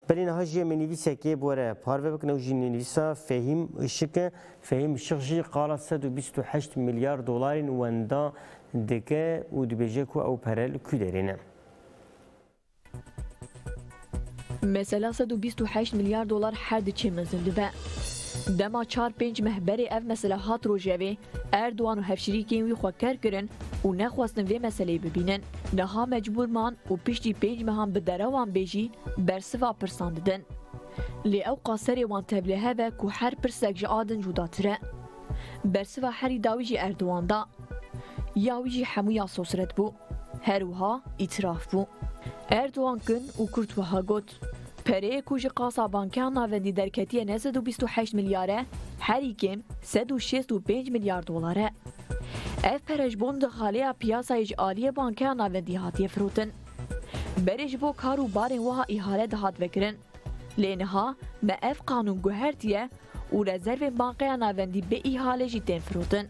Belê niha jî em ê nivîsekê bi we re parve bikin ew jî nivîsa Fehîm Işık e. Fehîm Işık jî qala sed û bîst û heşt milyar dolarên wenda dike û dibêje ku ew pere li ku derê ne. Mesela sed û bîst û heşt milyar dolar her diçe mezin dibe. Dema çar pênc meh berê ev mesela hat rojevê, Erdogan û hevşirîkên wî xwe ker kirin û nexwestin vê meseleyê bibînin. Niha mecbûr man û piştî pênc mehan bi derewan bê jî bersiva pirsan didin. Lê ewqa serê wan tevlê hev e ku her pirsek ji a din cudatir e. Bersiva herî dawî jî Erdogan da. Ya wî jî hemû ya sosret bû. Her wiha îtiraf bû. Erdogan kin û kurt wiha got, Pereyê ku ji qasabankean navendî derketiye ne sed û bîst û heşt milyar e, herî kêm sed û şêst û pênc milyar dolar e. Ev pere ji bo nirxaleya piyasayê ji aliyê bankeya navendî hatiye firotin. Berê ji bo kar û barên wiha îhale dihat vekirin. Lê niha me ev qanûn guhertiye û rezervên bankeya navendî bê îhale jî tên firotin.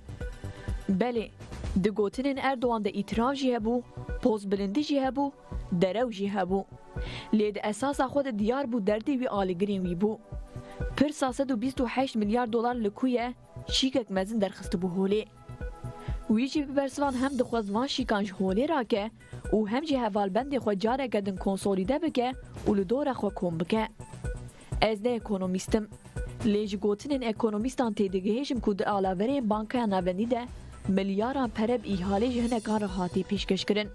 Belê, di gotinên Erdogan de îtirav jî hebû, pozbilindî jî hebû Derew jî hebû. Lê di esasa xwe de diyar bû derdê wî alîgirên wî bû. Pirsa sed û bîst û heşt milyar dolar li ku ye, şîkek mezin derxistibû holê. Wî jî bi bersivan hem dixwest van şîkan ji holê rake û hem jî hevalbendê xwe careke din konsolîde bike û li dora xwe kom bike. Ez ne ekonomîst im. Lê ji gotinên ekonomîstan tê digihêjim ku di alaverên Bankaya Navendî de milyaran pere bi îhalê ji hinekan re hatî pêşkeşkirin.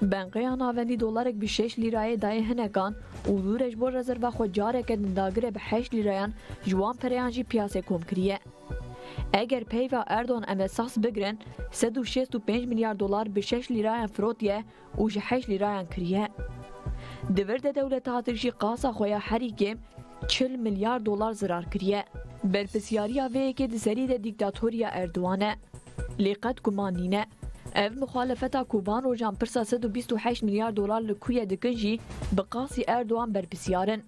Bankaya Navendî dolarek bi şeş lîrayê dayê hinekan û dûre ji bo rezerva xwe careke din dagire bi heşt lîrayan ji wan pereyan jî piyasê kom kiriye. Eger peyva Erdogan em e sahs bigirin sed û şêst û pênc milyar dolar bi şeş lîrayan firotiye û ji heşt lîrayan kiriye. Di vir de dewleta Tirk jî qasa xwe ya herî kêm çil milyar dolar zirar kiriye. Berpirsyariya vê yekê di serî de dîktatoriya Erdogan e. Lê qet guman nîne. Ev muxalefeta ku van rojan pirsa sed û bîst û heşt milyar dolar li ku ye dikin jî bi qasî Erdogan berpisyar in.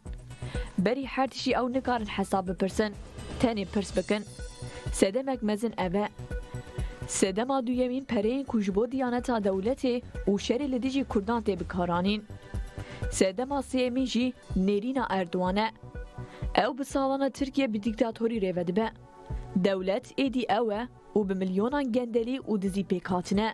Berî her tiştî ew nikarin hesab bipirsin, tenê pirs bikin. Sedemek mezin ev e. Sedema duyemîn pereyên ku ji bo diyaneta dewletê û şerê li dijî kurdan tê bikaranîn. Sedema sêyemîn jî nêrîna Erdogan e. Ew bi salana Tirkiye bi dîktatorî rê vedibe. Dewlet êdî ew e û bi milyonan gendelî û dizî pêkhatine.